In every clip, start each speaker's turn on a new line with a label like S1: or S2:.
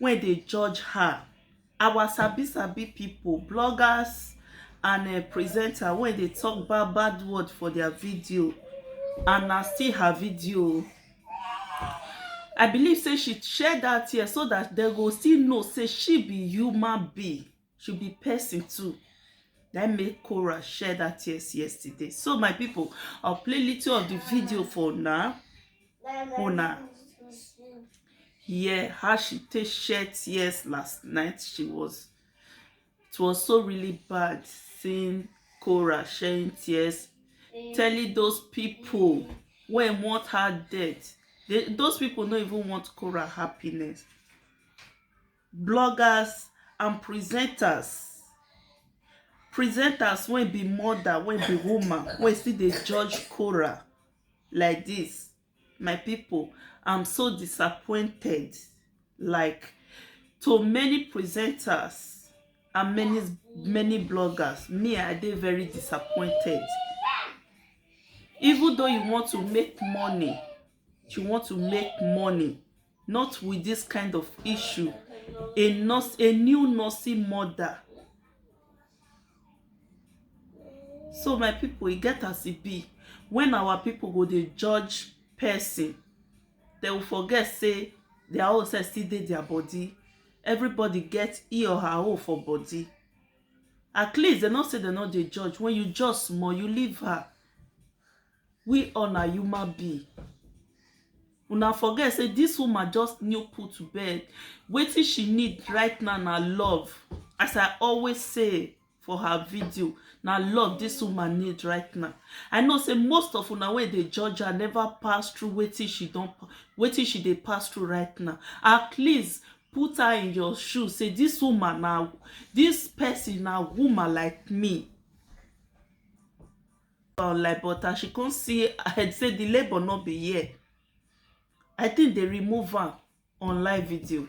S1: wey dey judge her, our sabi sabi pipu, bloggers and um presenter wey dey talk bad bad word for their video and na still her video o. I believe sey she share dat tear so dat dem go still know sey she be human being. she be person too na im make Cora share that tears yesterday so my people I'll play little of the video for now una hear how she take share tears last night she was it was so really bad seeing Cora sharing tears telling those people when want her death they, those people no even want Cora happiness bloggers and presenters presenters wey be mother wey be woman wey still dey judge Korah like this my people I'm so disappointed like to many presenters and many many bloggers me I dey very disappointed even though you want to make money you want to make money Not with this kind of issue. A nurse, a new nursey mother. So my people, e get as e be. When our people go dey judge person, they will forget say their own self still dey their body. Everybody get e or her own for body. At least they no say they no dey judge. When you judge small, you leave her. We all na human being una forget say this woman just new put to bed wetin she need right now na love as I always say for her video na love this woman need right now I know say most of una wey dey judge her never pass through wetin she don wetin she dey pass through right now at least put her in your shoe say this woman na this person na woman like me about like but as she come see head say the labour no be here i think they remove am on live video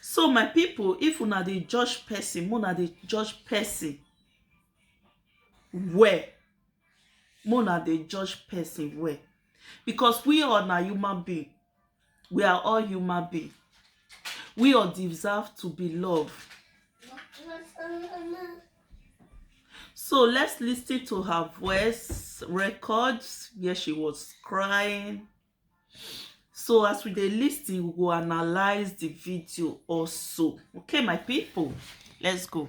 S1: so my people if una dey judge person una dey judge person well una dey judge person well because we all na human being we are all human being we all deserve to be loved so let's listen to her voice records where she was crying so as we dey listen we go analyze the video also okay my people let's go.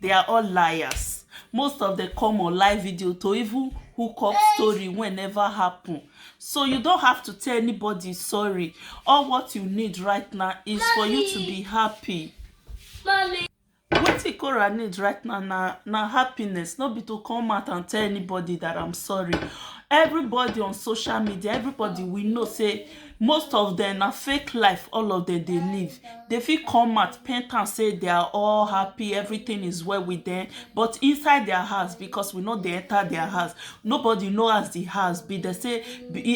S1: They are all liars. Most of them come on live video to even hook up story when never happen. So you don't have to tell anybody sorry. All what you need right now is Mommy. for you to be happy. Mommy. Wetin Cora need right now na, na happiness, no be to come out and tell anybody that I'm sorry. Everybody on social media, everybody we know say Most of dem na fake life all of dem dey live dey fit come out paint am say they are all happy everything is well with them but inside their house because we no dey enter their house nobody know as the house be they say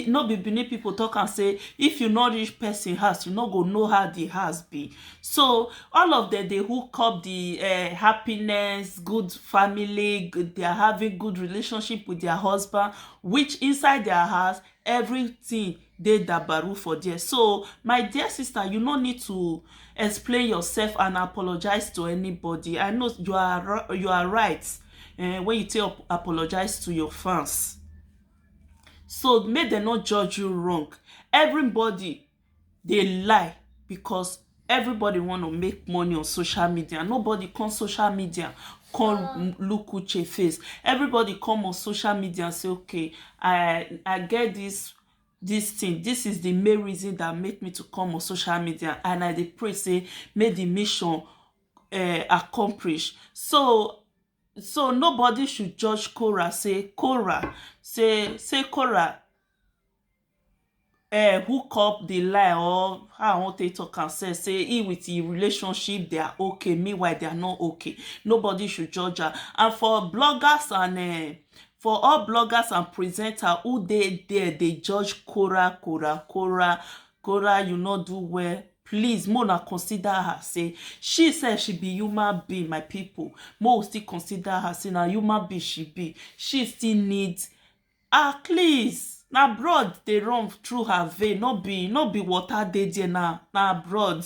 S1: no be Benin people talk am say if you no reach person house you no go know how the house be so all of them dey hook up the um happiness good family they are having good relationship with their husband which inside their house everything dey dabaru for there so my dear sister you no need to explain yourself and apologize to anybody I know you are you are right eh, when you take up, apologize to your fans so make dem no judge you wrong everybody dey lie because everybody want to make money on social media nobody come social media come look Uche face everybody come on social media say okay I I get this this thing this is the main reason that make me to come on social media and I dey pray say make the mission uh, accomplish so so nobody should judge Cora say Cora say say Cora um hook up dey lie or how I wan take talk am self sey him with him relationship they are okay meanwhile they are not okay nobody should judge am and for bloggers and um for all bloggers and presenter who dey there dey judge Kora Kora Kora Kora you no do well please make una consider her sey she self she be human being my people make we still consider her sey na human being she be she still need Ah please na broad dey run through her vein no be no be water dey there na na broad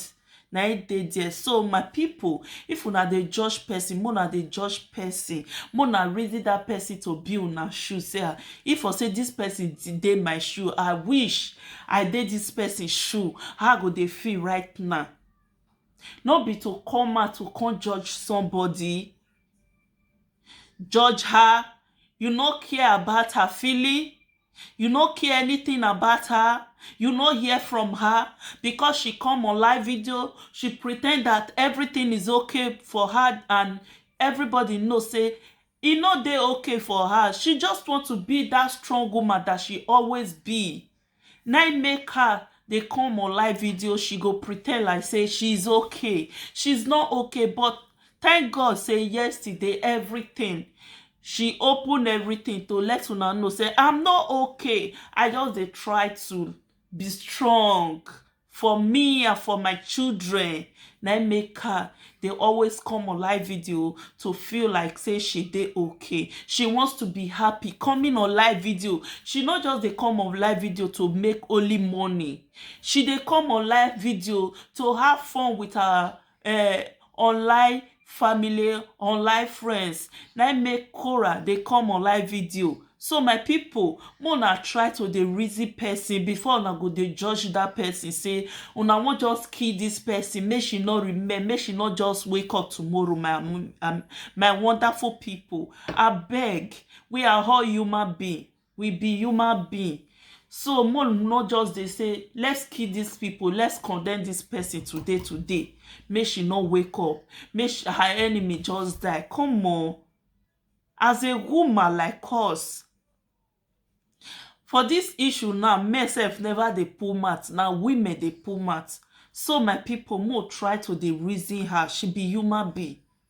S1: na im dey there so my people if una dey judge person make una dey judge person make una reason that person to be una shoe sey ah if for sey this person dey my shoe I wish I dey this person shoe how I go dey feel right now no be to come out to come judge somebody judge her, you no care about her feeling, you no care anything about her, you no hear from her because she come on live video, she pre ten d that everything is okay for her and everybody know sey e no dey okay for her. She just want to be that strong woman that she always be. na im make her dey come on live video she go pretend like say she is okay she is not okay but thank God say yesterday everything she open everything to let una know say I'm not okay I just dey try to be strong for me and for my children na im make her dey always come on live video to feel like say she dey okay she wants to be happy coming on live video she no just dey come on live video to make only money she dey come on live video to have fun with her um online family online friends na im make Quora dey come online video so my people make una try to dey reason person before una go dey judge that person say una wan just kill this person make she no remain make she no just wake up tomorrow my um, um, my wonderful people abeg we are all human being we be human being so mo no just dey say let's kill these people let's condemn this person today today make she no wake up make she, her enemy just die come on as a woman like us for this issue now men sef never dey pull mouth na women dey pull mouth so my people mo try to dey reason her she be human being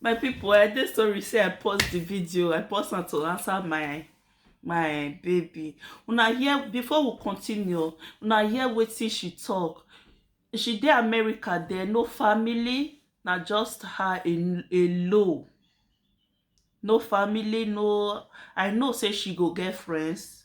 S1: my people i dey sorry say i pause the video i pause am to answer my my baby una hear before we continue una hear wetin she talk she dey america there no family na just her alone no family no i know say she go get friends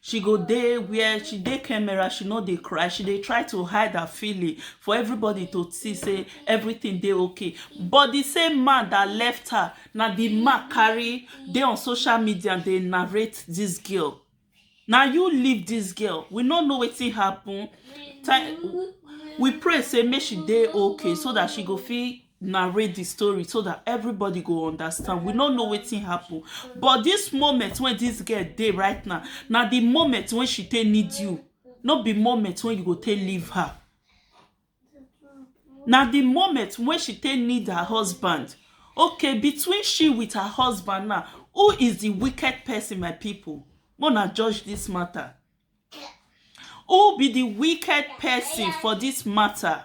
S1: she go dey where she dey camera she no dey cry she dey try to hide her feeling for everybody to see say everything dey okay but the same man that left her na the man carry dey on social media dey narrate this girl na you leave this girl we no know wetin happen we pray say make she dey okay so that she go fit narrate the story so that everybody go understand we no know wetin happen but this moment wey this girl dey right now na the moment wey she take need you no be moment wey you go take leave her na the moment wey she take need her husband okay between she with her husband now who is the wicked person my people make una judge this matter who be the wicked person for this matter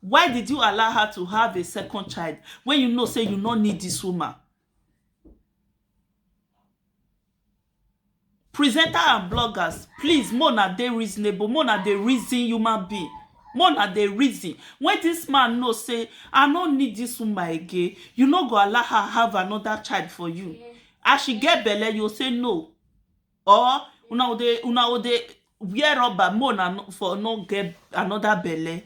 S1: Why did you allow her to have a second child when you know say you no need this woman? Presenter and bloggers, please, mona dey reasonable, mona dey reason human being. Mona dey reason. When this man know say, I no need this woman again, you no go allow her have another child for you. As she get belle, you say no. or una go dey una go dey wear rubber make una no for no get another belle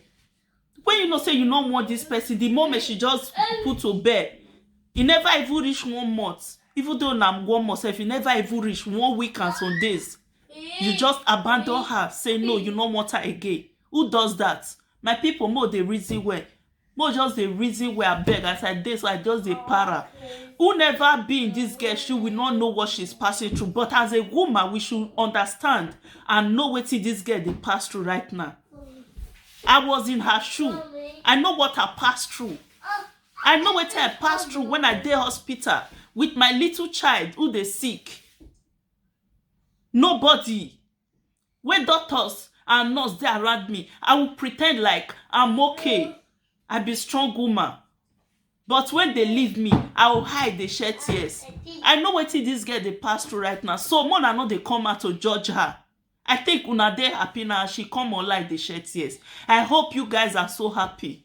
S1: when you know say you no want this person the moment she just put to bed e never even reach one month even though na one month sef e never even reach one week and some days you just abandon her say no you no want her again who does that my people make we dey reason well Make we just dey reason well abeg as I dey so I just dey para who never be in this girl shoe we no know what she's passing through but as a woman we should understand and know wetin this girl dey pass through right now I was in her shoe I know what I pass through I know wetin I pass through when I dey hospital with my little child who dey sick nobody wey doctors and nurse dey around me, I will pretend like am okay I be strong woman but when dey leave me, I will hide dey shed tears I know wetin dis girl dey pass through right now so make una no dey come out to judge her I think una dey happy now as she come online dey shed tears I hope you guys are so happy